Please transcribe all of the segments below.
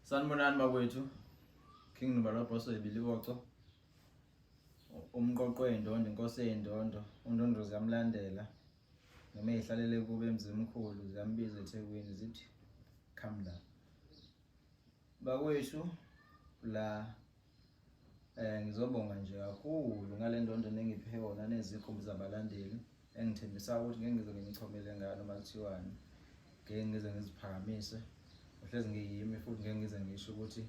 Sanibonani bakwethu. King Nobaloboso ebiliwoco. Umqoqo endondo, inkosi endondo, undondo ziyamlandela. Noma ihlalele kube emzimkhulu ziyambiza eThekwini zithi come la. Bakwethu la Eh ngizobonga nje kakhulu ngalendondo nengiphe yona nezikhumbi zabalandeli engithembisa ukuthi ngeke ngize ngimchomele ngalo makuthiwani. Ngeke ngize ngiziphakamise. Uhlezi ngiyimi futhi ngeke ngize ngisho ukuthi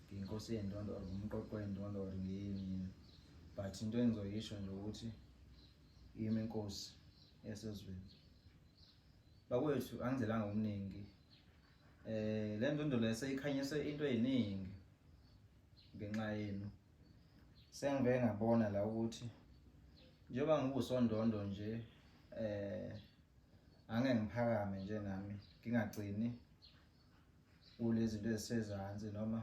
ngiyinkosi yendondo or ngumqoqo wendondo or ngiyini. But into engizoyisho nje ukuthi yimi inkosi yasezweni. Bakwethu angizelanga okuningi Eh le ndondo lese ikhanyise into eziningi ngenxa yenu. Sengibe ngabona la ukuthi njengoba ngikusondondo nje eh ange ngiphakame nje nami ngingagcini kulezi zinto ezisezansi noma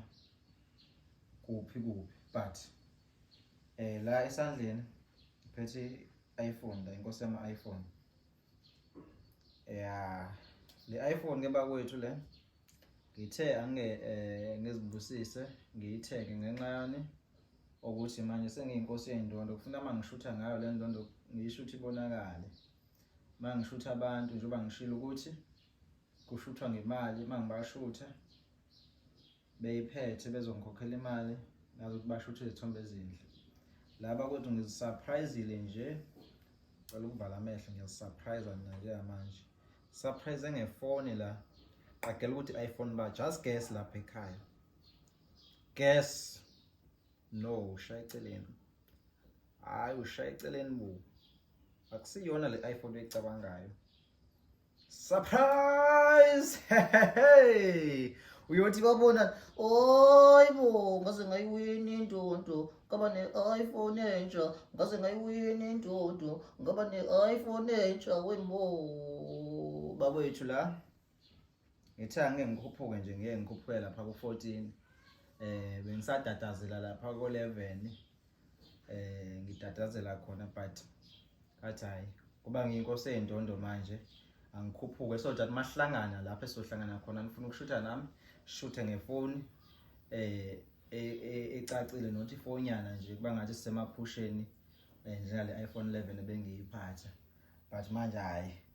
kuphi kuphi but eh la esandleni phethe iPhone la inkosi yama iPhone ya le iPhone ke bakwethu le ngithe ange eh, ngizibusise ngiyithenge ngenxa yani ukuthi manje sengiyinkosi yendondo kufuna mangishutha ngayo le ndondo ngiyishutha ibonakale mangishutha abantu njengoba ngishilo ukuthi kushuthwa ngemali mangibashutha beyiphethe bezongikhokhela imali ngazi ukuthi basho ukuthi izithombe ezinhle laba kodwa ngizisurprisile nje cela ukuvala amehlo ngiyazisurprise mina nje manje surprise ngefoni la qagela ukuthi iPhone ba just guess lapha ekhaya guess no ushaya eceleni hayi ushaya eceleni bo akusiyona le iPhone oyicabangayo Surprise! Hey! uyothi babona hayi bo ngaze ngayiwini indodo ngaba ne-iphone entsha ngaze ngayiwini indodo ngaba ne-iphone entsha wembo bakwethu la ngithe angeke ngikhuphuke nje ngeke ngikhuphuke lapha ku-fourteen um bengisatatazela lapha ko-eleven eh ngitatazela khona but but hayi kuba ngiyinkosi endondo manje angikhuphuke so that mahlangana lapho esohlangana khona ngifuna ukushutha nami shuthe ngefoni eh e, e, ecacile not ifonyana nje kuba ngathi sisemaphusheni eh, njengale iPhone 11 ebengiyiphatha but manje hayi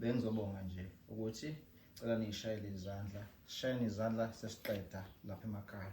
Bengizobonga nje ukuthi cela niyishayele izandla, sishayeni izandla sesiqeda lapha emakhaya.